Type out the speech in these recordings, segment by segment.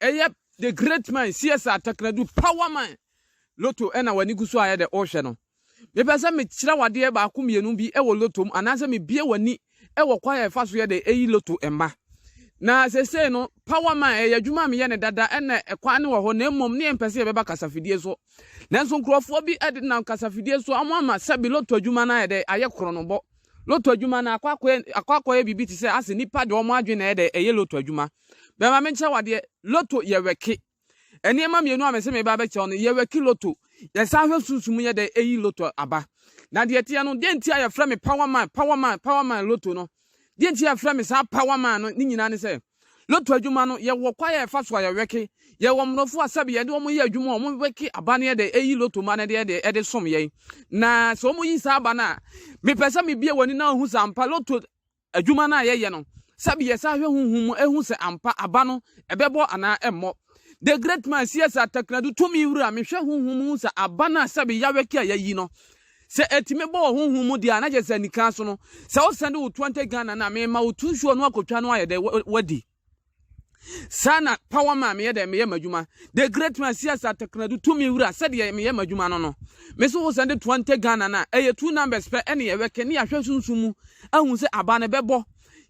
ɛyɛ the great man csa takradu power man loto ɛna w'ani gu so ayɛ dɛ ɔrehwɛ no mepɛ sɛ mekyerɛ wadeɛ baako mmienu bi ɛwɔ loto mu anaasɛ mebie w'ani ɛwɔ kwan a ɛfa so yɛ dɛ ɛyi loto mma na sesei no power man ɛyɛ adwuma a meyɛ ne dada ɛna ɛkwan ne wɔ hɔ na mmom ne yɛmpɛ sɛ yɛbɛba kasafidie so nanso nkurɔfoɔ bi ɛde nam kasafidie so ɔmo ama sɛ bi loto adwuma no ayɛ dɛ ayɛ koronobɔ loto adwuma no akɔ akɔyɛ biribi te sɛ ase nipa de ɔmo adwene na ɛyɛ dɛ ɛyɛ loto adwuma Bɛma menkyerɛ wo adeɛ, loto yɛ wɛke. Nneɛma mmienu a mese meba abɛkyerɛ wo no, yɛ wɛke loto. Yɛsan hwɛ sunsum mu yɛ dɛ ɛyi loto aba. Na deɛ ɛteɛ no, deɛ nti a yɛfrɛ me power man, power man, power man loto no, deɛ nti a yɛfrɛ me saa power man no ne nyinaa ne sɛ, loto adwuma no, yɛwɔ kwa yɛ ɛfa so a yɛ wɛke. Yɛwɔ mmorɔfo a sɛbe yɛde wɔn yɛ adwuma a wɔn wɛke aba no yɛ dɛ ɛyi loto ma no deɛ deɛ ɛde som yɛn. Na sɛ wɔn yi saa aba no a, mepɛ sɛ mebie w'ani na wohu sɛ ampa loto Adwuma no a yɛyɛ no, sɛbe yɛsan hwɛ honhom mu hu sɛ ampa aba no, ɛbɛbɔ anaa ɛmmɔ. The Great Man, CS. Attacknadu Tumi Wura, Mehwɛ honhom mu hu sɛ aba no a sɛbe yawɛke a yayi no, sɛ ɛtumi bɔ wɔ honhom mu deɛ a, na kyerɛ sɛ anikann so no, sɛ wosane de wo to ante Ghana no a, mema wo to nsuo no akɔtwa no ayɛ dɛ, wadi. saa na power ma meyɛ dɛ meyɛ m'adwuma the great man sias atekradu tumi wura sɛdeɛ meyɛ m'adwuma no no me so wo sɛ de toa nte ghana no a ɛyɛ two numbers pɛ ɛne yɛwɛke ne yɛahwɛ sunsum mu ahu sɛ aba no bɛbɔ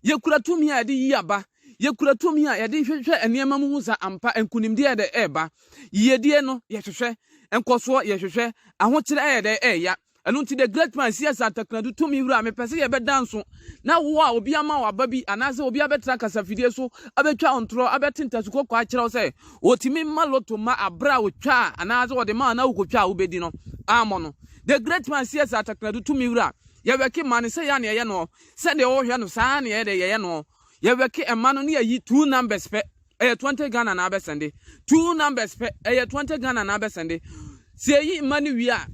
yɛkura tumi a yɛde yi aba yɛkura tumi a yɛde hwehwɛ nneɛma mu hu sɛ ampa nkonimdeɛ dɛ ɛreba yiyedie no yɛhwehwɛ nkɔsoɔ yɛhwehwɛ ahokyerɛ ɛyɛ dɛ ɛreya Ɛno nti The Great Man, C.S. Attakradu, tumi wura, mepɛ sɛ yɛbɛda nso, na wo a obi ama wo aba bi anaasɛ obi abɛtena kasafidie so abɛtwa wo ntorɔ, abɛte ntasu kɔkɔɔ akyerɛ wo sɛ wɔtumi ma loto ma aberɛ a wɔtwa a anaasɛ wɔde ma a na wokɔtwa a wobɛdi no ammɔ no. The Great Man, C.S. Attakradu, tumi wura, yɛwɛke mma no sɛ yɛ a na yɛyɛ noɔ, sɛdeɛ wohwɛ no saa ara na yɛyɛ dɛ yɛyɛ noɔ, yɛwɛke mma no na yɛyi two numbers pɛ. ɛyɛ twenty Ghana na abɛsɛnde two numbers pɛ ɛyɛ twenty Ghana na abɛsɛnde sɛ yɛyi mma no wie a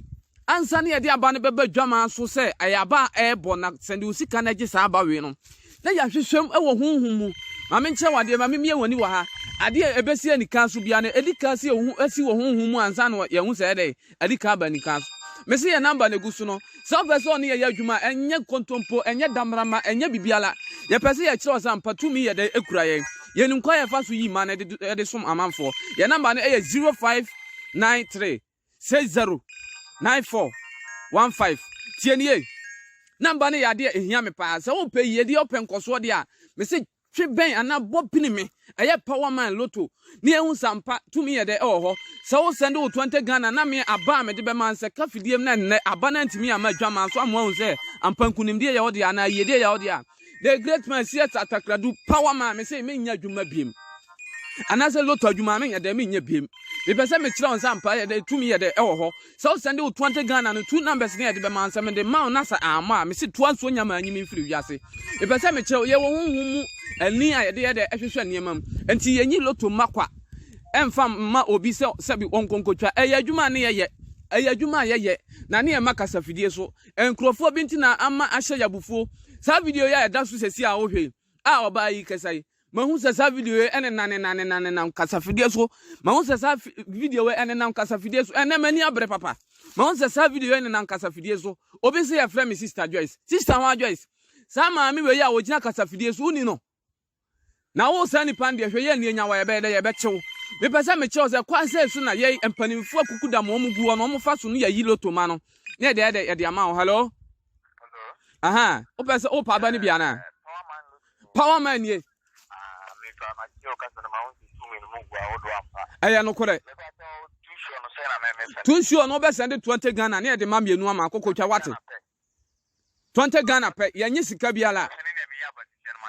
ansa na yɛde aba no bɛba dwamaa so sɛ ɛyɛ aba a ɛrebɔ na sɛnde wo sika no agye saa aba wei no na yɛahwehwɛm wɔ honhom mu ma menkyerɛ wɔ adeɛ ma memie wɔ ani wɔ ha adeɛ ɛbɛsi anika so bia no ɛdi ka si wo ho asi wɔ honhom mu ansa na yɛhu sɛ ɛdɛ Ɛde kan ba anikan so. Me se yɛ number na egu so no. Sɛ ɔpɛ sɛ ɔne yɛ yɛ adwuma a, ɛnyɛ kontompo, ɛnyɛ damrama, ɛnyɛ biribiara. Yɛpɛ sɛ yɛkyerɛ wo sɛ ampa tumi yɛ dɛn kura yɛn. Yɛnim kwan a yɛfa so yi mana de som amanfoɔ. Yɛn number no yɛ zero five nine three six zero nine four one five. Tie nie, Number no yɛ adeɛ a ɛhia me paa. Sɛ wopɛ yiedie, wopɛ nkɔsoɔ deɛ a, me se Twe bɛn anaa bɔ pini me. Ɛyɛ power man lotto ne ehu sa mpa tumi yɛ dɛ ɛwɔ hɔ sɛ wo sɛnde wo twenty Ghana na me aba a mede bɛma nsɛ ka fidiem na nnɛ aba no antumi amma adwaman so ama wahu sɛ ampa nkunimdie yɛ wo dea anaa yiedie yɛ wo dea The great man CS Atakradu power man me se menyɛ adwuma biem anaasɛ lotto adwuma menyɛ dɛ menyɛ biem mepɛ sɛ mekyerɛ wo sɛ ampa yɛ dɛ tumi yɛ dɛ ɛwɔ hɔ Sɛ wo sɛnde wo toa nte Ghana no two numbers ne yɛde bɛma sɛ mede ma wo na sɛ ammɔ a mese toa nsuo nya maa nyi me mfiri wiase mepɛ sɛ mekyerɛ wo yɛwɔ honhom mu ani a yɛde yɛ dɛ ɛhwehwɛ nneɛma mu nti yɛnyi loto mma kwa ɛmfa mma obi sɛ sɛbi wɔn nkonkotwa ɛyɛ adwuma a ne yɛyɛ ɛyɛ adwuma a yɛyɛ na ne yɛma kasafidie so nkurɔfoɔ bi nti na ama ahyɛ yɛ abufuo saa video yi a ɛda so sɛsi a wohwɛ yi a ɔbaa yi kasa yi Mahu sɛ saa video yi ɛnenam nenam nenam nenam kasafidie so. Mahu sɛ saa video yi ɛnenam kasafidie so. Ɛnɛ m'ani abere papa. Mahu sɛ saa video yi ɛnenam kasafidie so. Obi sɛ yɛfrɛ me Sister Joyce. Sister ho a Joyce. Saa maame wei a ɔgyina kasafidie so woni no. Na wo saa nipa deɛ hwɛ yɛ nni anya wɔ yɛbɛyɛ dɛ yɛbɛkyew. Mepɛ sɛ mekyerɛ wo sɛ kwan sɛ so na yɛ mpanimfoɔ akuku dam wɔn gu hɔ na wɔfa so no yɛyi loto ma no. Ne yɛde ayɛ dɛ yɛde ama wo. Hello? Aha, wopɛ sɛ wopa aba no bi anaa? Power man nie. Ɛyɛ nokorɛ. Tu nsuo no wobɛsɛn de twenty Ghana ne yɛde ma mmienu ama akokotwa wate. Twenty Ghana pɛ yɛnye sika biara.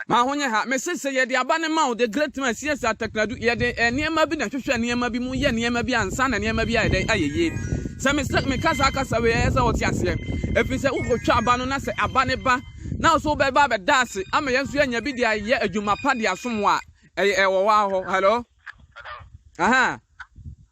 Ma ho nyɛ ha. Mese sɛ yɛde aba no ma wo, The Great Man, CS Ataknadu, yɛde nneɛma bi na ɛhwehwɛ nneɛma bi mu, yɛ nneɛma bi ansa na nneɛma bi ayɛ dɛn? Ayɛ yie. Sɛ mese meka saa kasa wei a, ɛyɛ sɛ wote aseɛ. Ɛfiri sɛ wokɔtwa aba no na sɛ aba no ba na wo nso wobɛba abɛda ase ama yɛn nso yɛanya bi de ayɛ adwuma pa de asom wo a, ɛyɛ ɛwɔ hɔ ara hɔ. Hello? Aha.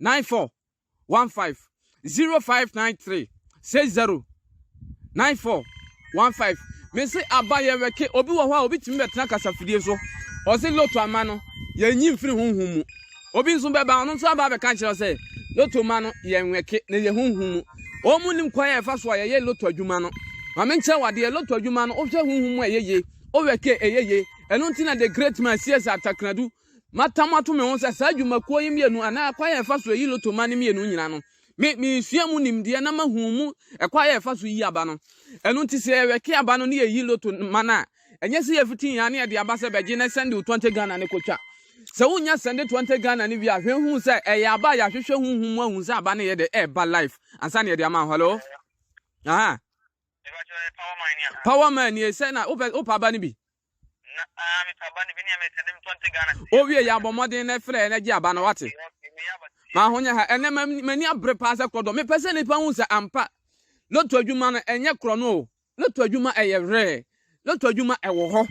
nine four one five zero five nine three six zero nine four one five mese aba yɛ wɛke obi wɔ hɔ a obi tumi bɛtena kasafidie so ɔse loto ama no yɛnyi mfiri honhom mu obi nso bɛba ɔno nso aba bɛka kyerɛ sɛ loto ma no yɛ nwɛke na yɛ honhom mu wɔn mu nim kwan a ɛfa so a yɛyɛ loto adwuma no maame nkyɛn wɔ adeɛ loto adwuma no wohwɛ honhom mu a ɛyɛ yie owɛke ɛyɛ yie ɛno nti na the great man sies atakradu Matam ato me ho sɛ saa dwumakuo yi mmienu anaa ɛkwan a ɛfa so yi lotoma no mmienu nyinaa no, me meresua mu nimdeɛ na mahu mu ɛkwan a ɛfa so yi aba no. Ɛno nti sɛ yɛwɛke aba no ne yɛyi lotoma no a, ɛnyɛ sɛ yɛfiti yɛn ano yɛde aba sɛ bɛgye na sɛnde wo 20 Ghana no kɔtwa. Sɛ wonya sɛnde 20 Ghana no wie a, hwɛ hu sɛ ɛyɛ aba a yɛahwehwɛ honhom mu ahu sɛ aba no yɛ dɛ ɛreba life ansa na yɛde ama hɔlo. Aha. Power man nie sɛ na wopɛ aba no bi. Owie yɛ abɔ mmɔden na ɛfrɛ na gye aba no wate. Ma ho nyɛ ha ɛnɛ m'ani abere paa sɛ kɔdɔ mepɛ sɛ nipa hu sɛ ampa loto adwuma no ɛnyɛ korɔ no o loto adwuma ɛyɛ werɛ loto adwuma ɛwɔ hɔ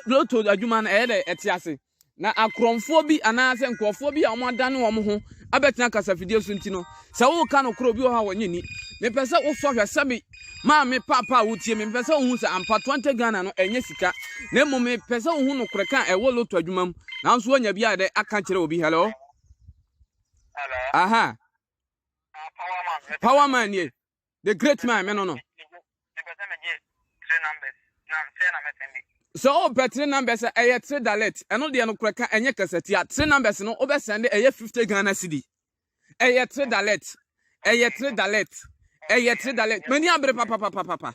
loto adwuma no ɛyɛ dɛ ɛte ase. Na akorɔmfoɔ bi anaasɛ nkurɔfoɔ bi a wɔadane wɔn ho abɛtena kasafidie so nti no, sɛ woka nokorɛ obi wɔ hɔ a wɔnyɛ nni. Mepɛ sɛ wosɔ hwɛ sɛ me maame paapa a wotie me, mepɛ sɛ wohu sɛ ampa Twenty Ghana no ɛnyɛ sika, na mmom mepɛ sɛ wohu nokorɛ ka a ɛwɔ lotto adwuma mu, nanso woanya bi a dɛ aka kyerɛ obi. Hello? Aha. Powerman nie. the great man me no no sɛ wopɛ oh, three numbers a ɛyɛ three dalet ɛno deɛ no korɛ ka ɛnyɛ kasatia three numbers no wobɛsɛnde ɛyɛ 50 ghana cedi ɛyɛ three dalet ɛyɛ three dalet ɛyɛ three dalet m'ani abere papapapapa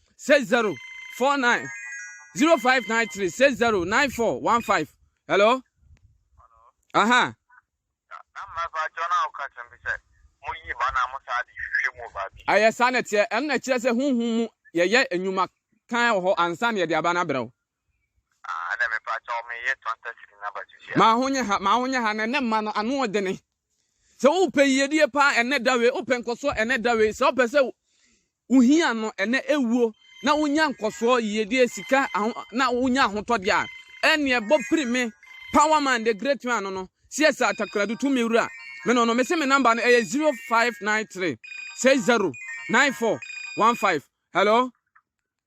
six zero four nine zero five nine three six zero nine four one five hello aha. ɛyɛ saa na ɛteɛ ɛno na ɛkyerɛ sɛ honhom mu yɛyɛ nnwuma kan wɔ hɔ ansa na yɛde aba no abrɛ wo. Ah, ɛna me pa kyɛw me yɛ tɔnta siri na ba sushi. Ma ho nyɛ ha, ma ho nyɛ ha, na ɛnɛ mma no ano ɔdene. Sɛ wopɛ yiyedie paa ɛnɛ dawe, wopɛ nkɔsoɔ ɛnɛ dawe, sɛ wopɛ sɛ wohia no ɛnɛ ɛwuo na wonya nkɔsoɔ yiyedie sika na wonya ahotɔdeɛ a, ɛneɛ bɔ piri me power man the great man no no, siɛ sɛ atakoradu tu me wura me no no, mese me number no ɛyɛ 0593 60 94 15 hello.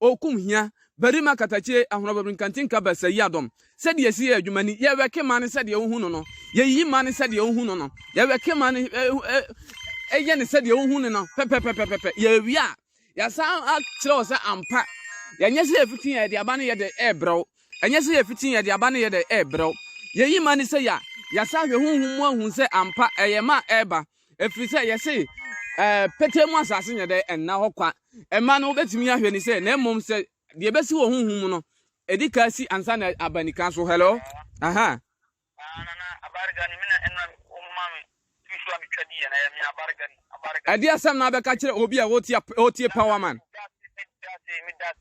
okum hia barima katakyie ahorɔbabiri nkantinka bɛsɛ yi adɔm sɛdeɛ yɛsi yɛ adwuma ni yɛwɛke ma no sɛdeɛ wohu no no yɛyiyi ma no sɛdeɛ wohu no no yɛwɛke ma no ɛyɛ no sɛdeɛ wohu no no pɛpɛpɛpɛpɛ yɛwie a yɛsan akyerɛ wo sɛ ampa yɛnyɛ sɛ yɛfiti yɛde aba no yɛde ɛbrɛw ɛnyɛ sɛ yɛfiti yɛde aba no yɛde ɛbrɛw yɛyi ma no sɛ yɛ a yɛsa hwɛ honhom mu ahu sɛ ampa ɛyɛ ma ɛba ɛfiri sɛ yɛse pɛtɛ mu asase nyɛ dɛ ɛnna hɔ kwa mma no wobɛtumi ahwɛ ne sɛ na mmom sɛ deɛ ɛbɛsi wɔ honhom mu no ɛdi ka si ansa na aba nika so hello aha ɛde asɛm na abɛka kyerɛ obi a ɔtie power man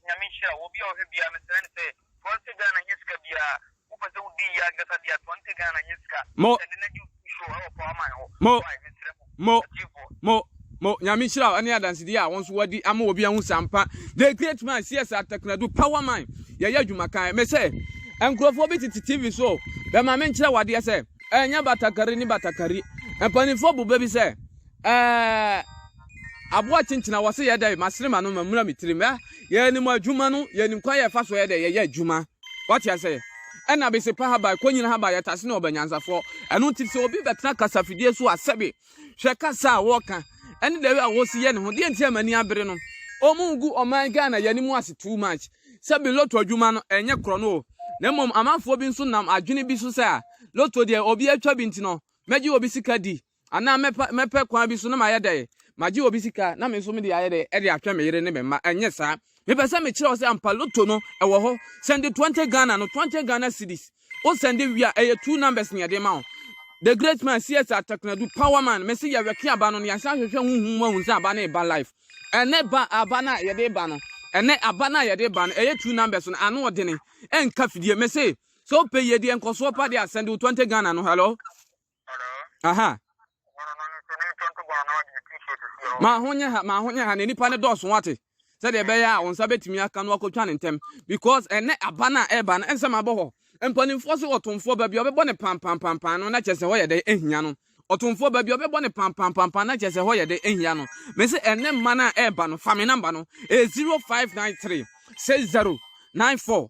Nyame nhyira wo bi a ɔhwɛ bia mesrɛ ne sɛ Twenty Ghana nyɛ sika biara. Wopɛ sɛ wodi yie ankasa deɛ a, twenty Ghana nyɛ sika. Mo. Sɛde na gye school show ɛwɔ power man hɔ. Mo. Why? Mesrɛ mo. Mo. Atiefoɔ. Mo. Mo. Nyame nhyira wo ɛne adansedie a wo nso wadi ama obi ahu sɛ ampa the great man CS Ataknadu power man yɛyɛ adwuma kan. Mesɛ nkurɔfoɔ bi tete TV so bɛma menkyerɛ wadeɛ sɛ ɛnyɛ batakari ne batakari. Mpanimfoɔ boba bi sɛ Ɛɛɛɛ aboa kyenkyen a wɔse yɛ dɛ masere m'ano ma mmura me tirim ɛ yɛnim adwuma no yɛnim kwan yɛfa so yɛ dɛ yɛyɛ adwuma wate ase ɛna bese pa haban kɔnyina haban yɛtase ne ɔbanyansafoɔ ɛno nti sɛ obi bɛtena kasafidie so a sɛbe hwɛ kasa a wɔka ɛne dɛwe a wɔsi yɛ ne ho deɛ nti ama ni abere no ɔmo gu ɔman Ghana yɛnim ase too much sɛbe loto adwuma no ɛnyɛ korɔ no o na mmom amanfoɔ bi nso nam adwene bi so sɛ a loto deɛ obi atwa bi nti no mɛgye obi sika di anaa mɛpɛ mɛpɛ kwan bi so na mayɛ dɛ magye obi sika na me nso mede ayɛ dɛ ɛde atwɛn me yere ne me mma ɛnyɛ saa mepɛ sɛ mekyerɛ wo sɛ ampa loto no ɛwɔ hɔ sɛnde 20 ghana no 20 ghana cities wo sɛnde wie a ɛyɛ two numbers ne ɛde ma wo the great man cs atakunadu power man mese yɛwɛke aba no ne yɛsan hwehwɛ ho hu mu ahu sɛ aba no ɛba life ɛnɛ ba aba no a yɛde ba no ɛnɛ aba no a yɛde ba no ɛyɛ two numbers no ano ɔdene ɛnka fidie mese sɛ wopɛ yie deɛ nkɔsoɔ pa deɛ asɛnde wo 20 ghana no hello aha ma ho nyɛ ha ma ho nyɛ ha na nipa no dɔɔso wate sɛdeɛ ɛbɛyɛ a wɔn nsa bɛtumi aka no akɔtwa ne ntɛm because ɛnɛ aba no a ɛreba no ɛnsɛm abɔ hɔ mpanimfoɔ so ɔtomfoɔ baabi a ɔbɛbɔ ne pampampampaa no na kyerɛ sɛ hɔ yɛ dɛ ahia no ɔtomfoɔ baabi a ɔbɛbɔ ne pampampampaa na kyerɛ sɛ hɔ yɛ dɛ ahia no me sɛ ɛnɛ mma no a ɛreba no fa me namba no ɛyɛ 0593 60 94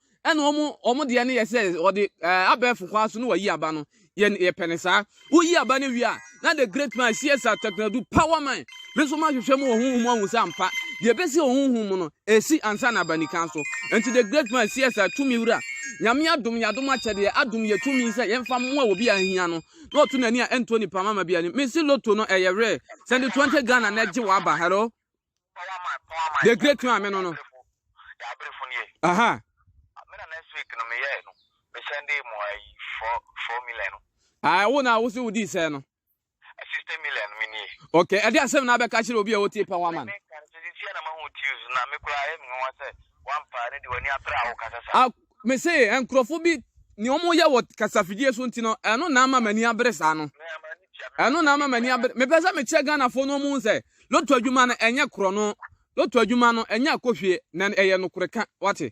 ɛna wɔn wɔn deɛ no yɛ sɛ wɔde ɛɛ abɛɛfo kwan so na wɔyi aba no yɛ yɛpɛ ne saa woyi aba no wie a na the great man csr tɛkunadu power man me nso mahwehwɛ mu wɔ honhom ahu sɛ ampa deɛ ɛbɛsi wɔ honhom mu no ɛsi ansa na abanikan so nti the great man csr tumi wura nyame adom yɛ adom akyɛdeɛ adom yɛ tumi sɛ yɛmfa mmoa wɔ bi a ahia no na ɔto n'ani a ɛnto nipa mama bi ani mesi loto no ɛyɛ werɛ sɛnde 20 ghana na ɛgye wɔ aba hello the great one me no no aha ah wo na wo se wo di sɛ no okay ɛde asɛm na abɛka kyerɛ obi a wotie pɛ wa man ah Mese nkurɔfo bi nea wɔyɛ wɔ kasafidie so nti no ɛno na ama m'ani abere saa no ɛno na ama m'ani abere mepɛ sɛ mekyerɛ Ghanafoɔ no ɔmo sɛ loto adwuma no ɛnyɛ korɔ no loto adwuma no ɛnyɛ akɔhwie na ɛyɛ nokorɛ ka wate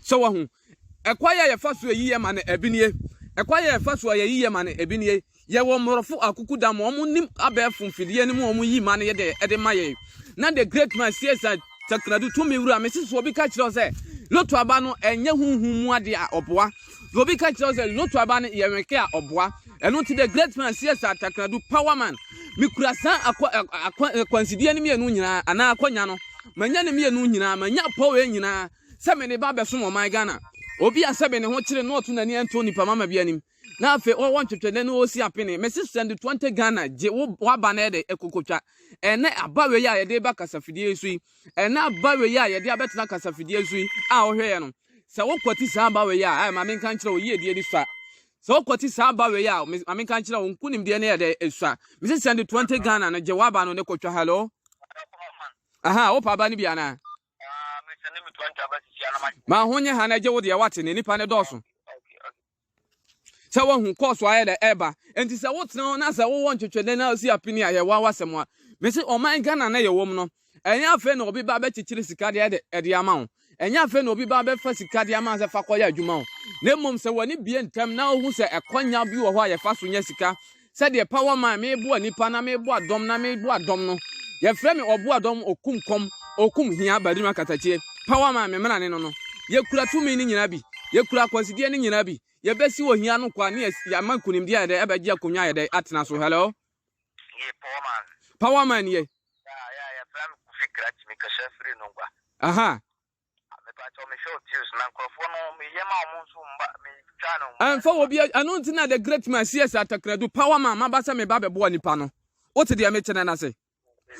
sɛ wahu ɛkwa yɛ yɛfa so ɛyiyɛ ma no ɛbi nie ɛkwa yɛ yɛfa so ɛyɛ yiyɛ ma no ɛbi nie Yɛwɔ mborɔfo akukuda ma wɔn nim abɛɛfo mfidie no mu a wɔyi ma no yɛ dɛ de ma yɛn. Na the great man Cesar Takradu, tumi wura, mesusuo obi ka kyerɛw sɛ loto aba no ɛnyɛ honhom mu adeɛ a ɔboa. Na obi ka kyerɛw sɛ loto aba no yɛ wɛnke a ɔboa. Ɛno nti the great man Cesar Takradu, power man, mekura saa akwa, akwa, akwansideɛ no mmienu nyinaa anaa akwanya no. Manya ne mmienu nyinaa, manya apɔ wei nyinaa sɛ mede ba bɛsom ɔman Ghana. Obi a sɛbe ne ho kyere no ɔto n'ani ɛnto nipa mama bi anim. na afei ɔwɔ ntwetwe ne na ɔsi apene mesi sɛnde 20 Ghana gye waba na ɛde ɛkokotwa ɛnɛ aba wei a yɛde ba kasafidie so yi ɛnɛ aba wei a yɛde abɛtena kasafidie so yi a ɔhwɛ yɛ no sɛ wokɔte saa aba wei a ɛma menka nkyerɛ wo yiedie ne sua sɛ wokɔte saa aba wei a ma menka nkyerɛ wo nkonimdie ne ɛdɛ ɛsua mesi sɛnde 20 Ghana no gye waba no ne kotwa hello aha wopa aba no bi anaa ma ho nyɛ ha na gye wo deɛ wate ne nipa ne dɔɔso sɛ woahu kɔɔso ayɛ dɛ ɛreba nti sɛ wotena hɔ na sɛ wowɔ ntwetwɛdɛ na osi apini a yɛwɔ awasɛm a mese ɔman Ghana na yɛwɔ mu no ɛnyɛ afei na obi ba bɛkyekyere sika de ɛde ɛde ama wo ɛnyɛ afei na obi ba bɛfa sika de ama sɛ fa kɔyɛ adwuma wo na mmom sɛ w'ani bie ntɛm na ohu sɛ ɛkɔnya bi wɔ hɔ a yɛfa so nya sika sɛdeɛ power man meboa nipa na meboa dɔm na meboa dɔm no yɛfrɛ me ɔboa dɔm okum kɔm okum hia barima katakyie power man me mmrane no no yɛkura tumi no nyinaa bi yɛkura akwansideɛ no nyinaa bi yɛbɛsi wɔ hia no kwa ne yɛama nkunimdeɛ ayɛ dɛ ɛbɛgye akonnwa ayɛ dɛ atena so hello power man yɛ aha Ɛmfa wɔ bia ɛno nti na the great man CS Atakradu power man maba sɛ meba bɛboa nipa no wote deɛ mekyerɛ no ase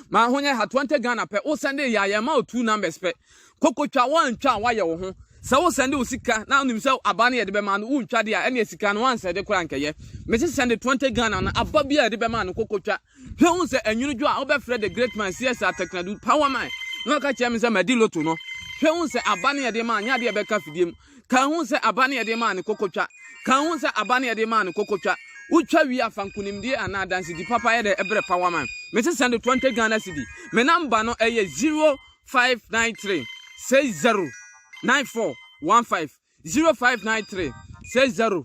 ma ho nyɛ ha 20 Ghana pɛ wo sɛnde yɛ a yɛma wo two numbers pɛ kokotwa woantwa a woayɛ wo ho sɛ wo sɛnde wo sika na wonim sɛ aba no yɛde bɛma no wontwa de a ɛne sika no woansɛde koraa nkɛyɛ mese sɛnde 20 Ghana no aba bi a yɛde bɛma no kokotwa Hwɛ hu sɛ anwunnudwo a wobɛfrɛ the great man sies atɛknadu power man na ɔka kyerɛ me sɛ madi loto no. Hwɛ hu sɛ aba ne yɛde maa nyɛ adeɛ ɛbɛka fidie mu. Ka hu sɛ aba ne yɛde maa ne kokotwa. Ka hu sɛ aba ne yɛde maa ne kokotwa. Wotwa wie a fa nkunimdie anaa adansedi papa yɛ dɛ brɛ power man. Mese sɛnde 20 Ghana cedi. Me number no ɛyɛ 0593 60 9415 0593 60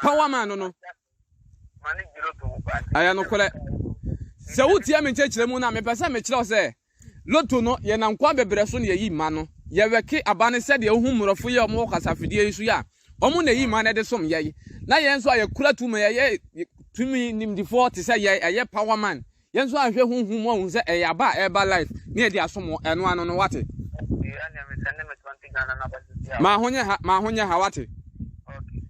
paw a maa no no. Ɛyɛ nokorɛ. Sɛ wotie me nkyerɛkyerɛ mu no a, mepɛ sɛ mekyerɛ wo sɛ loto no yɛ nankoa bebrɛ so na yɛyi ma no. Yɛwɛke aba no sɛdeɛ wohu mmorɔfo yɛ wɔn wɔ kasafidie yi so yi a, wɔn na ɛyi ma no de som yɛn. Na yɛn nso a yɛkura tumi, yɛyɛ tumi nimdifoɔ te sɛ yɛn, ɛyɛ power man. Yɛn nso ahwɛ honhom mu ahu sɛ ɛyɛ aba a ɛreba life na yɛde asom wo, ɛno ano no wate. Ma ho nyɛ ha, ma ho nyɛ ha wate.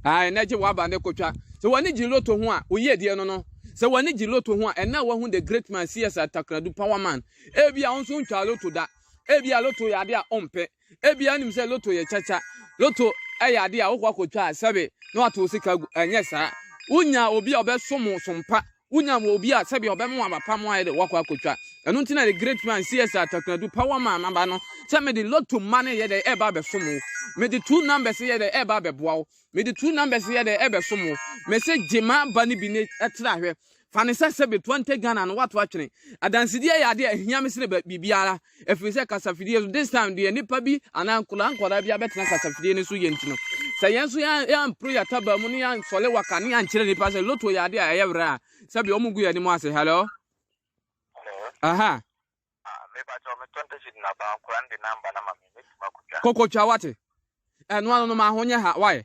Ae, na gye w'aba ne kotwa. Sɛ w'ani gye loto ho a, oyi adie no no. Sɛ w'ani gye loto ho a, ɛnna wahu the great man CS Atakradu power man. Ebi a nso ntwa loto da. Ebi a loto yɛ ade a ɔmpɛ. Ebi a nim sɛ loto yɛ kyakya. Loto ɛyɛ ade a wokɔ akotwa a sɛbe na wato sika gu. Ɛnyɛ saa. Wonya obi a ɔbɛsom wo sompa Wonya wɔ obi a sɛbi ɔbɛma wɔn aba pa mu ayɛ dɛ wɔakɔ akɔtwa. Ɛno nti na the great man CS Atakradu pa wɔn maa n'aba no sɛ mede lotto mma no yɛ dɛ ɛreba abɛsom wo. Mede two numbers yɛ dɛ ɛreba abɛboa wo. Mede two numbers yɛ dɛ ɛbɛsom wo. Mese gye m'aba no bi na tra hwɛ. Fa no sɛ sɛbi twenty Ghana no woato atwene. Adansedie yɛ adeɛ a ɛhia me sene biribiara. ɛfiri sɛ kasafidie so this time deɛ nipa bi anaa nkwadaa nkwadaa bi abɛtena kasafidie no so yɛ nti no sɛ yɛn nso yɛampro yɛataba mu ne yɛansɔle waka ne yɛankyerɛ nipa sɛ loto yɛ adeɛ a ɛyɛ werɛ a sɛbi ɔmo gu yɛn anim ase hello aha kokotwa wate ɛno ano no ma ho nyɛ ha wae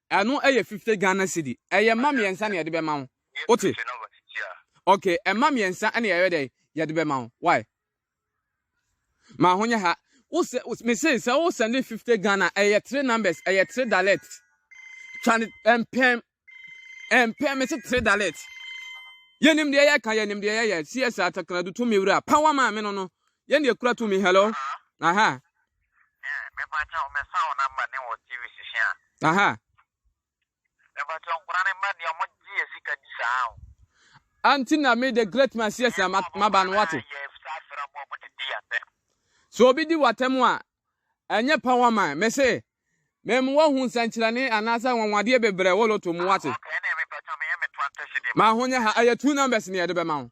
Ɛno yɛ fifty Ghana cedi. Ɛyɛ mma mmiɛnsa na yɛde bɛma wo. Wote? Okay, mma mmiɛnsa na yɛyɛ dɛ yɛde bɛma wo. Why? Ma ho nyɛ ha. Wosɛ mese sɛ wo send fifty Ghana ɛyɛ three numbers ɛyɛ three dalet. Twa ne mpɛm mpɛm mese three dalet. Yɛnim deɛ yɛka yɛnim deɛ yɛyɛ CSA Takanadu tumi wura pa wa maame no no. Yɛn deɛ kura tumi hello. Aha. Aha. Anti na me the great man sies na maba no wate. So obi di watam a ɛnyɛ power man me se mem wahu nsɛnkyerɛnne anaasɛ anwanwadeɛ bebrɛ wɔ loto mu wate. Ma ho nyɛ ha ɛyɛ two numbers ne yɛde bɛma wo.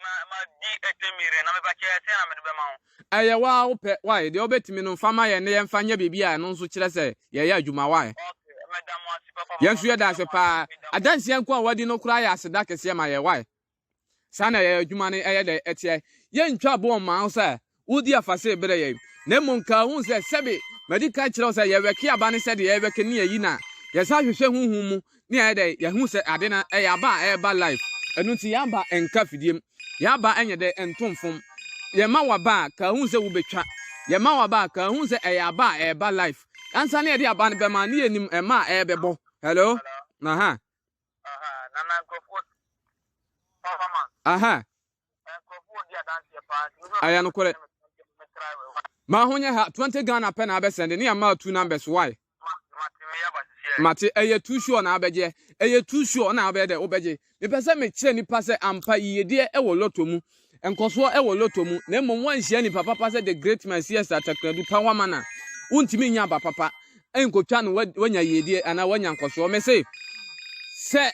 Ma ma di ɛtɛ mire na meba kyɛ sɛ na mede bɛma wo. Ɛyɛ wo a wopɛ wae deɛ wobɛtumi no mfa ma yɛn na yɛmfa nyɛ biribi a ɛno nso kyerɛ sɛ yɛyɛ adwuma wae. Okay meda mo ase papa papa. Yɛn nso yɛda ase paa adanseɛ nko a wadi no koraa yɛ aseda kɛseɛ ma yɛn wae saa na yɛn adwuma no ɛyɛ dɛ ɛteɛ yɛntwa boɔ mma wo sɛ Wodi afahyɛ bere yɛn, na mmom ka ho sɛ, Sɛbe madi kan kyerɛ wo sɛ yɛwɛke aba ne sɛdeɛ yɛwɛke ne ayi no a, yɛsan hwehwɛ honhom mu ne ayɛ dɛn yɛhu sɛ ade no ɛyɛ aba a ɛreba life. Ɛno nti yɛn aba nka fidiem, yɛn aba nyɛ dɛ nto mfom. Yɛn ma w'aba a, ka ho sɛ wobɛtwa. Yɛn ma w'aba a, ka ho sɛ ɛyɛ aba a ɛreba life. Ansa na yɛde aba no bɛma no yɛnnim mma a ɛrebɛbɔ. Hello? Aha. Aha. Aya no kore. Ma ho nyɛ ha 20 Ghana pɛ na abɛsɛnde ne ama two numbers why? Mate ɛyɛ too sure na abɛgye ɛyɛ too sure na abɛyɛ dɛ wobɛgye mepɛ sɛ mekyerɛ nipa sɛ ampa yiyedeɛ ɛwɔ lotto mu nkɔsoɔ ɛwɔ lotto mu na mmom wanhyia nipa papa sɛ the great man sies atakradu pawamana wontumi nya aba papa nkotwa no wanya yiedie anaa wanya nkɔsoɔ mese sɛ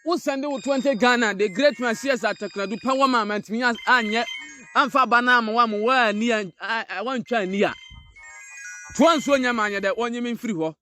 wo sɛnde wo 20 Ghana the great man CS Atakradu pɛ wɔ ma mantumi anyɛ amfa ba no ama wa mo woani a wantwa ani a toa nsuo nyɛ ma anyɛ dɛ wɔnye me mfiri hɔ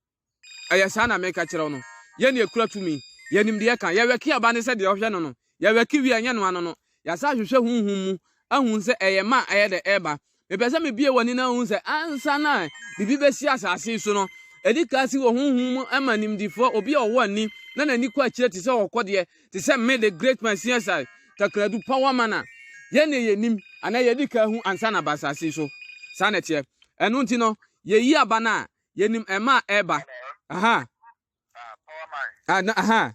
ɛyɛ saa na meka kyerɛ wo no yɛne ɛkura tumi yɛnim deɛ ka yɛwɛke aba ne sɛ deɛ ɔhwɛ no no yɛwɛke wie ɛnyɛ no ano no yɛasa ahwehwɛ honhom mu ahu sɛ ɛyɛ ma ɛyɛ dɛ ɛba Mepɛ sɛ mebue w'ani na wuhu sɛ ansa na biribi besi asase yi so no, ɛde ka si wɔ honhom mu ma nimdefo, obi a ɔwɔ ani na n'ani kɔ akyire te sɛ ɔkɔdeɛ, te sɛ me, the great Messiah, takradu pa wa mana. Yɛn na yenim, anaa yɛadi kan ahu ansa na aba asase yi so. Saa na ɛteɛ. Ɛno nti no, yeyi aba no a, yenim mma a ɛreba. Aha. Ah, na, aha.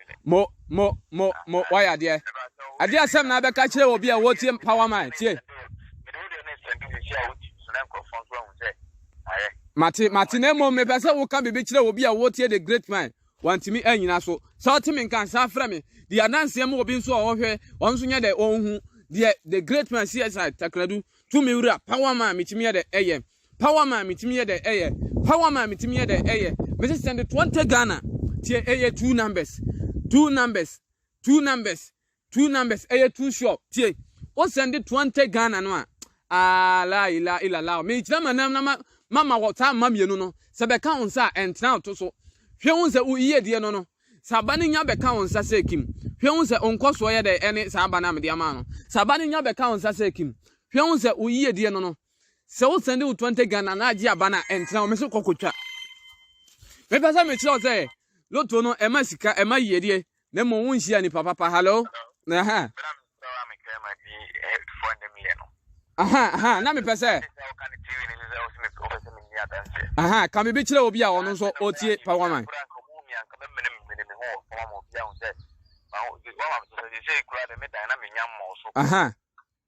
mo mo mo mo wayɛ adeɛ adeɛ asɛm na abɛka kyerɛ obi a wɔtie power man tie mate mate na mmom mepɛ sɛ woka biribi kyerɛ obi a wɔtie the great man wantumi anyina so sɛ ɔte me nka saa frɛ me de adanseɛ ma obi nso a ɔhwɛ ɔno nso nyɛ dɛ ɔnhu deɛ the great man csi takradu tumi wura power man metumi yɛ dɛ ɛyɛ Power man me timi yɛ dɛ ɛyɛ. Power man me timi yɛ dɛ ɛyɛ. Me se send twenty Ghana tie ɛyɛ two numbers two numbers two numbers two numbers ɛyɛ two sure tie o send twenty Ghana no a aa la ila ila la me kyerɛ ma nam na ma ma ma wɔ saa ma mienu no sɛ bɛka wɔn nsa a ɛntena ɔto so hwɛ wɔn sɛ woyi adie no no sɛ aba no nya bɛka wɔn nsa sɛ kim hwɛ wɔn sɛ ɔnkɔ soɔ yɛ dɛ ɛne saa aba no a mede ama no sɛ aba no nya bɛka wɔn nsa sɛ kim hwɛ wɔn sɛ woyi adie no no sɛ wo sɛnde wo 20 Ghana na agye aba na ɛntena hɔ, me so kɔkɔtwa. Mepɛ sɛ mekyerɛ wo sɛ loto no ɛma sika ɛma yiedie na mmom wonhyia nipa papa hello na ha aha aha na mepɛ sɛ aha ka biribi kyerɛ obi a ɔno nso ɔtie pa waman aha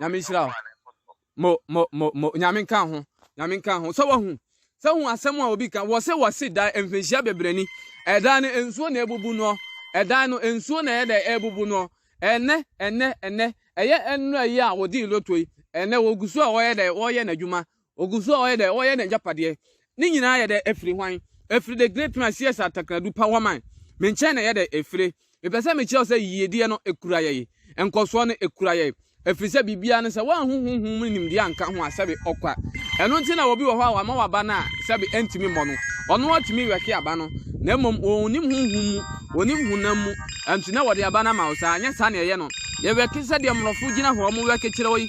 nyame nhyira wo mo mo mo mo nyame nka ho nyame nka ho sɛ wahu sɛ hu asɛm a obi ka wɔ se wɔ se dan mfinhyia bebree ni ɛdan no nsuo na ebubu no ɛdan no nsuo na ɛyɛ dɛ ebubu no ɛnɛ ɛnɛ ɛnɛ ɛyɛ ɛnura yi a wɔdi loto yi ɛnɛ wɔgu so a wɔyɛ dɛ wɔyɛ n'adwuma Ogu so a ɔyɛ dɛ ɔyɛ n'egyapadeɛ. Ne nyinaa yɛ dɛ efiri hwan? Efiri the great man CS Atakradu pa Waman me nkyɛn na ɛyɛ dɛ efire. Mepɛ sɛ mekyerɛ wo sɛ yiyedie no ekura yɛn. Nkɔsoɔ no ekura yɛn. Efiri sɛ biribiara no sɛ woanhu honhom mu nimdeɛ anka ho a sɛbe ɔkwa. Ɛno nti na obi wɔ hɔ a wama waba no a sɛbe ɛntumi mmɔ no. Ɔno ara tumi wɛke aba no na mmom ɔnnim honhom mu, ɔnnim honam mu nti na wɔde aba no ama wo saa. Nyɛ saa na ɛyɛ no. Yɛwɛke sɛdeɛ mmorɔfo gyina hɔ wɔwɛke kyerɛ wo yi.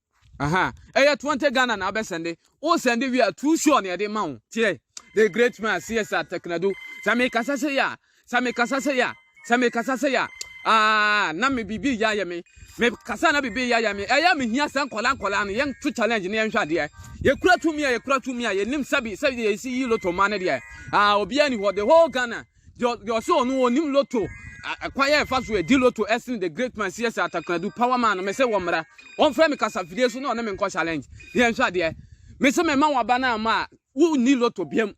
Aha, ɛyɛ 20 Ghana na abɛ sɛnde. O sɛnde wie a, too sure na yɛde ma wo. Tiɛ, the great man CSR Teknadu. Sɛ me kasa sɛ ya, sɛ me kasa sɛ ya, sɛ me kasa sɛ ya. Ah, na me bibi ya yɛ me. Me kasa na bibi ya yɛ me. Ɛyɛ me hia sɛ nkɔla nkɔla no yɛn to challenge ne yɛn hwɛ adeɛ. Yɛ kura tumi a yɛ kura tumi a yɛ nim sɛbi sɛbi yɛ si yi loto ma ne deɛ. Ah, obiara ni hɔ the whole Ghana. Deɛ ɔse ɔno ɔnim loto kwan a ɛfa so ɛdi loto ɛsene the great man siɛsɛ atakoradu power man no mese wɔ mmara ɔmfrɛ me kasafidie so na ɔne me nkɔ challenge ne yɛnhwɛ adeɛ mese mema waba no ama a wonni loto biam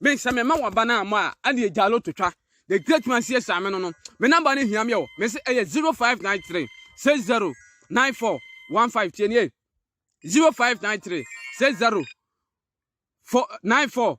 mese mema waba no ama a ɛne ɛgya loto twa the great man siɛsɛ ame no no me namba no hia me o mese ɛyɛ 0593 60 94 15 tie nie 0593 60 94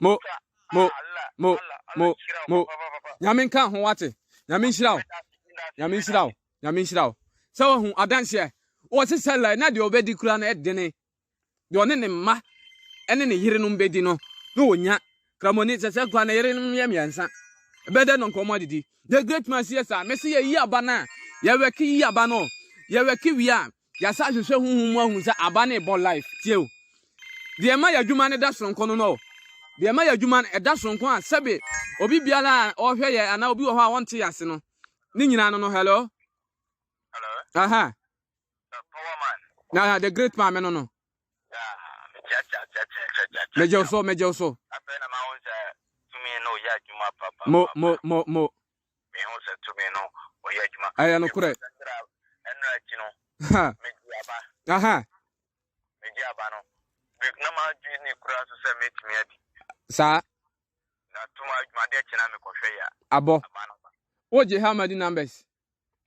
mo mo mo mo mo nyame nka ho wate nyame nhyira wo nyame nhyira wo nyame nhyira wo sɛ wahu adanseɛ wɔse sɛ lai na deɛ ɔbɛdi kura no ɛdene deɛ ɔne ne mma ɛne ne yerenom bɛdi no na ɔnya kramoni sɛ sɛ kura ne yerenom yɛ mmiɛnsa ɛbɛdɛ no nkɔmmɔ adidi the great man siɛ saa mɛse yɛyi aba no a yɛwɛke yi aba no yɛwɛke wie a Yɛasan ahwehwɛ honhom mu ahu sɛ aba no rebɔ life. Tie o. Deɛ ɛma y'adwuma no da soronko no no. Deɛ ɛma y'adwuma no ɛda soronko a sɛbe obi biara a ɔhwɛ yɛ anaa obi wɔ hɔ a ɔnte yɛase no. Ne nyinaa no no hello. Hello. Aha. The power man. Na the great man no no. Megyɛ so, megyɛ so. Afei na ma wo sɛ tumi na ɔyɛ adwuma papa. Mo, mo, mo, mo. Mehu sɛ tumi no ɔyɛ adwuma. Ɛyɛ nokorɛ. Ɛnura akyi no, megye aba. Aha. Megye aba no, na madwi ne kura nso sɛ metumi adi. Saa. Na tuma adwuma adeɛ kyɛ na mekɔhwɛ yɛ. Abɔ. Aba no. Wogye how many numbers?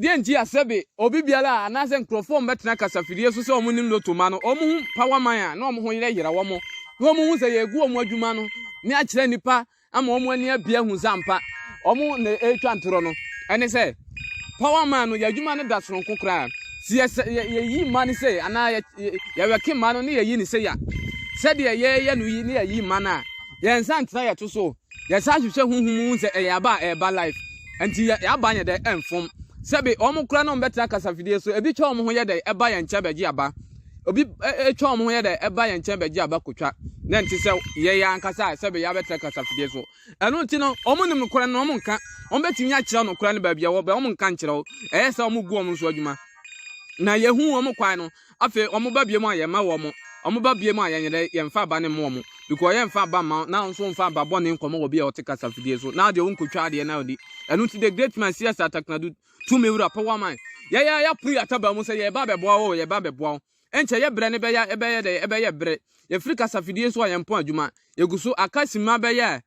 Deɛ nti a sɛbe obi biara a anaasɛ nkurɔfoɔ a wɔbɛtena kasafidie so sɛ wɔnim loto ma no, wɔhu power man a na wɔn ho yerɛ yera wɔn, na wɔhu sɛ yɛregu wɔn adwuma no ne akyerɛ nnipa ama wɔn ani abie ahu sɛ ampa wɔn na ɛretwa ntorɔ no, ɛne sɛ power man no yɛ adwuma no da soronko koraa. Si yɛyi mma no sei anaa yɛwɛke mma no ne yɛyi ne sei a, sɛdeɛ yɛyɛ no yi ne yɛyi mma no a, yɛn nsa ntena yɛto so. Yɛsan hwehwɛ honhom mu hu sɛ ɛyɛ aba a ɛreba life. Ɛnti yɛ y'aba nyɛ dɛ ɛnfom. Sɛbe wɔn koraa na wɔn bɛtra kasafidie so, ebi twa wɔn ho yɛ dɛ ɛba yɛn nkyɛn bɛgye aba. Obi ɛ twa wɔn ho yɛ dɛ ɛba yɛn nkyɛn bɛgye aba kotwa. Na ɛnte sɛ yɛ yɛ ankasa a sɛbe y'abɛtra kasafidie so. Ɛno nti no, wɔn nim nokorɛ no na wɔn nka. Wɔn bɛtumi akyerɛ wo nokorɛ no baabi ɛwɔ, bɛ wɔn nka nkyerɛ wo. Ɛyɛ sɛ wɔn gu wɔn so adwuma. Na yɛ hu wɔn kwan no. Afei wɔn ba biom a yɛn mma wɔn, wɔn ba biom a yɛn yere yɛn nfa aba no mma wɔn, because yɛn nfa aba mma wɔn, na wɔn nso nfa aba bɔne nkɔmɔ wɔ bia wɔte kasa fidie so, na deɛ wɔnkɔ twa adeɛ na wɔdi. Ɛno nti the great man CS Ataknadu tu me wura pɛ waman, yɛn ara yɛapono yɛn ataban mu sɛ yɛreba abɛboa wo oo, yɛreba abɛboa wo. Ɛnkyɛ yɛ brɛ no bɛyɛ, ɛbɛyɛ dɛn? Ɛbɛyɛ bere. Yɛfiri kasa fidie so a yɛn pɔn adwuma, yɛgu so aka simma bɛyɛ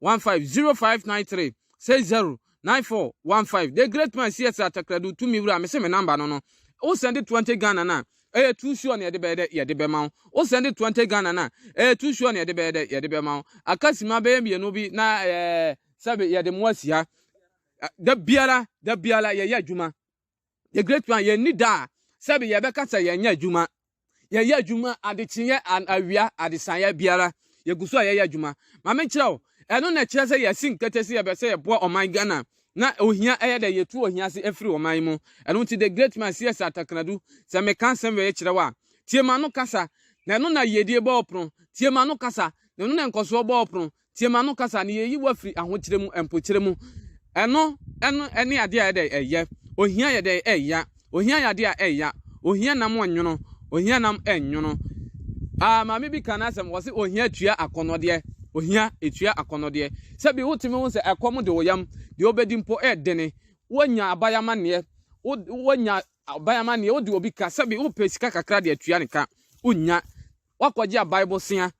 15 0593 60 9415 the great man cs atakradu tumi wura mese me number no no wo send 20 ghana na ɛyɛ too sure na yɛde bɛyɛ dɛ yɛde bɛma wo wo send 20 ghana na ɛyɛ too sure na yɛde bɛyɛ dɛ yɛde bɛma wo akasima bɛyɛ mmienu bi na ɛɛ sɛbe yɛde mo asi ha da biara da biara yɛyɛ adwuma The Great One, yɛnni da a sɛbe yɛbɛka sɛ yɛnyɛ adwuma. Yɛyɛ adwuma adekyeeɛ, awia, adesaeɛ biara. Yɛgu so a yɛyɛ adwuma. Ma menkyerɛ wo, ɛno na ɛkyerɛ sɛ yɛasi nkete sɛ yɛbɛ sɛ yɛboa ɔman Ghana na ohia ɛyɛ dɛ yɛtu ohia ase afiri ɔman yi mu. Ɛno nti The Great Man CS Atakradu, sɛ meka asɛm wei kyerɛ wo a, tie m'ano kasa, na ɛno na yiedie bɔ wo pono. Tie m'ano kasa, na ɛno na nkɔsoɔ bɔ wo pono. Tie m'ano kasa ne yeyi wo afiri ahokyerɛ mu, mpokyerɛ mu. Ɛno ɛno ɛne adeɛ a ɛdɛ ɛyɛ. Ohia yɛ dɛ ɛya. Ohia yɛ adeɛ a ɛya. Ohia nam ɔnwono. Ohia nam ɛnwono. Ah, maame bi kan asɛm wɔ se ohia tua akɔnɔdeɛ. Ohia etua akɔnɔdeɛ. Sɛbi wotumi ho sɛ ɛkɔm de wo yam. Deɛ obedi mpo ɛdene. Wonya aban amaneɛ. Wonya aban amaneɛ. Wode obi ka. Sɛbi wopɛ sika kakra de atua ne ka. Wonya. Wakɔgye aban bosea.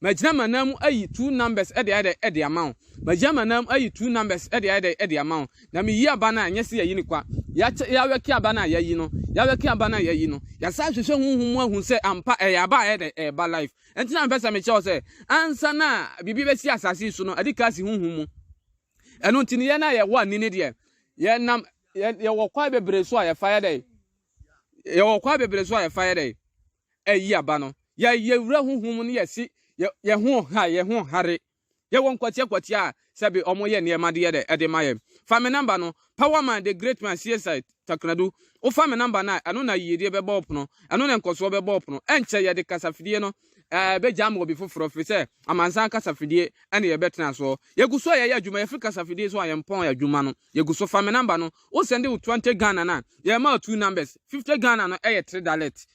Magyina m'anan mu ayi two numbers de ayɛ dɛ de ama wo. Magyina m'anan mu ayi two numbers de ayɛ dɛ de ama wo. Na meyi aba no a, nyɛ sɛ yɛayi no kwa. Yɛakyɛ, yɛawɛke aba no a, yɛayi no. Yɛawɛke aba no a, yɛayi no. Yɛasan ahwehwɛ honhom mu ahu sɛ ampa ɛyɛ aba a ɛyɛ dɛ ɛreba life. Ɛnti na mepɛ sɛ mekyerɛ wo sɛ, ansa na biribi bɛsi asase yi so no, ɛde ka asi honhom mu. Ɛno nti no, yɛn a yɛwɔ ani no deɛ, yɛnam, yɛwɔ kwan bebree so a yɛfa yɛ dɛ. Yɛwɔ kwan bebree so a yɛfa yɛ dɛ. ɛyi aba no, yɛ yɛ wura huhu mu ne yɛ si yɛ ho ha yɛ ho hare. Yɛ wɔ nkwatia kwatia a sɛ bi ɔmo yɛ nneɛma de yɛ dɛ ɛde ma yɛ. Fa me namba no, power man the great man CSI Takradu, wo fa me namba no a ɛno na yiyedie bɛ bɔ wo pono, ɛno na nkɔsoɔ bɛ bɔ wo pono, ɛnkyɛ yɛ de kasa fidie no ɛɛ bɛ gya ama obi foforɔ firi sɛ amansan kasa fidie ɛna yɛ bɛ tena soɔ. Yɛ gu so a yɛ yɛ adwuma, yɛ firi kasa fidie so a yɛ mpɔn adwuma no, yɛ gu so, fa me namba no. Wo send wo twenty Ghana na yɛ ma two numbers. Fifty Ghana no ɛyɛ three dalet.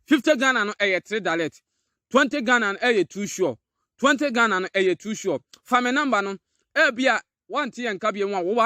Fifty Ghana no ɛyɛ three dalet. Twenty Ghana no ɛyɛ two sure. Twenty Ghana no ɛyɛ two sure. Fa me number no. Ɛbia wante yɛn nka biom a wo wa.